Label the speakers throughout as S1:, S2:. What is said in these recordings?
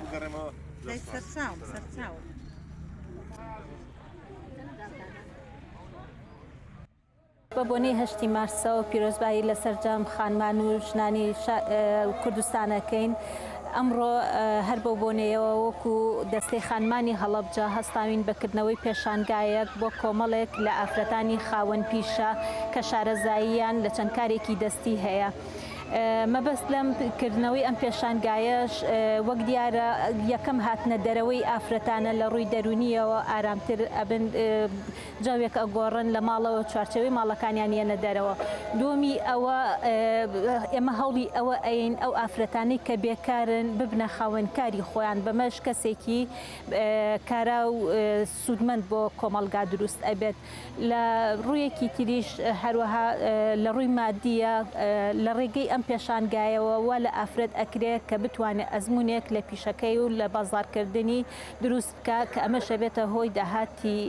S1: بگەڕێمەوە
S2: لای سەرچاوم سەرچاوم بە بۆنەی هەشتی مارسەوە پیرۆزبایی لە سەرجەم خانمان و ژنانی کوردستانەکەین ئەمڕۆ هەر بەو بۆنەیەوە وەکو دەستەی خانمانی هەڵەبجە هەستاوین بە کردنەوەی پێشانگایەک بۆ کۆمەڵێک لە ئافرەتانی خاوەن پیشە کە شارەزاییان لە چەند کارێکی دەستی هەیە مەبەست لەم کردنەوەی ئەم پێشانگایەش وەک دیارە یەکەم هاتنە دەرەوەی ئافرەتانە لە ڕووی دەرونیەوە ئارامتر ئەبن جەوێک ئەگۆڕن لە ماڵەوە چوارچێوەی ماڵەکانیان یەنە دەرەوە دووەمی ئەوە ئێمە هەوڵی ئەوە ئەین ئەو ئافرەتانی کە بێکارن ببنە خاوەن کاری خۆیان بەمەش کەسێکی کارا و سوودمەند بۆ کۆمەڵگا دروست ئەبێت لە ڕوویەکی تریش هەروەها لە ڕووی مادیە لە ڕێگەی ئەم پێشانگایەوە وا لە ئافرەت ئەکرێت کە بتوانێت ئەزمونێک لە پیشەکەی و لە بازارکردنی دروست بکا کە ئەمەش ئەبێتە هۆی داهاتی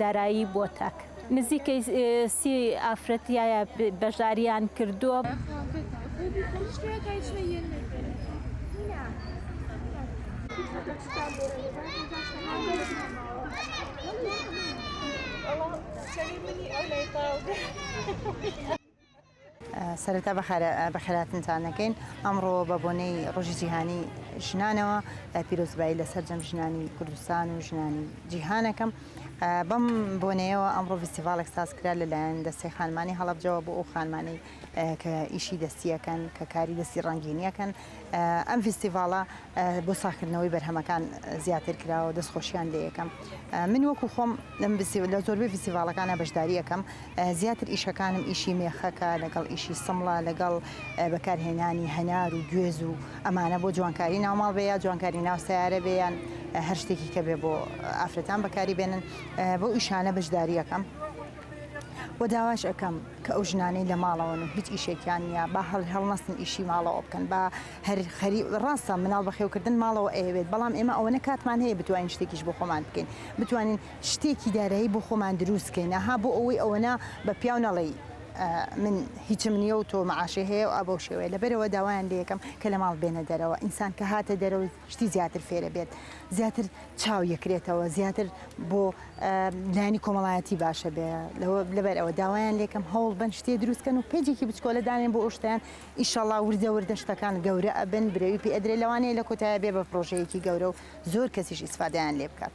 S2: دارایی بۆ تاک. نزیکەی سی ئافرەت یاە بەشدارییان کردووە.
S3: سەرەتا بەخێراتنتان دەکەین ئەمڕۆ بە بۆنەی ڕۆژی جیهانی ژنانەوە پیرۆزبایی لە سەررجەم ژنانی کوردستان و ژنانی جیهانەکەم بەم بۆنەیەوە ئەمڕۆ فستیڤالێک سازکرا لەلایەن دەستی خانمانی هەڵبجەوە بۆ ئەو خانمانی کە ئیشی دەستیەکەن کە کاری دەستی ڕەنگینیەکەن ئەم فیستیڤاڵە بۆ ساخکردنەوەی بەرهەمەکان زیاتر کراوە دەستخۆشیان لێ یەکەم من وەکو خۆم لە زۆربەی فیستیڤالەکانە بەشداریەکەم زیاتر ئیشەکانم ئیشی مێخەکە لەگەڵ ئیشی سمڵە لەگەڵ بەکارهێنانی هەنار و گوێز و ئەمانە بۆ جوانکاری ناوماڵ بێ یا جوانکاری ناو سیارە بێیان هەر شتێکی کە بێ بۆ ئافرەتان بەکاری بێنن بۆ ئیشانە بەشداریەکەم. وە داواش ئەکەم کە ئەو ژنانەی لە ماڵەوەن و هیچ ئیشێکیان نییە با هەڵ هەڵنەستن ئیشی ماڵەوە بکەن با هەر خەری ڕاستە مناڵ بەخێوکردن ماڵەوە ئەیەوێت بەڵام ئێمە ئەوەنە کاتمان هەیە بتوانین شتێکیش بۆ خۆمان بکەین بتوانین شتێکی دارایی بۆ خۆمان دروستکەین ها بۆ ئەوەی ئەوەنە بە پیاو نەڵی من هیچم نییە و تۆ معاشی هەیە و ئابەو شێوەیە لەبەرەوە داوایان لەکەم کە لە ماڵ بێنە دەرەوە ئینسان کە هاتە دەرەوە شتی زیاتر فێرە بێت زیاتر چاو یەکرێتەوە زیاتر بۆ لانی کۆمەڵایەتی باشە بێ لەوە لەبەر ئەوە داوایان لێکم هەوڵ بن شتێ دروستکەن و پێجێکی بچکۆلە دانێن بۆ ئەوشتیان ئیشەڵا وردە وردە شتەکان گەورە ئەبن برەوی پێدرێ لەوانەیە لە کۆتایە بێ بە پرۆژەیەکی گەورە و زۆر کەسیش ئیسفادیان لێ بکات.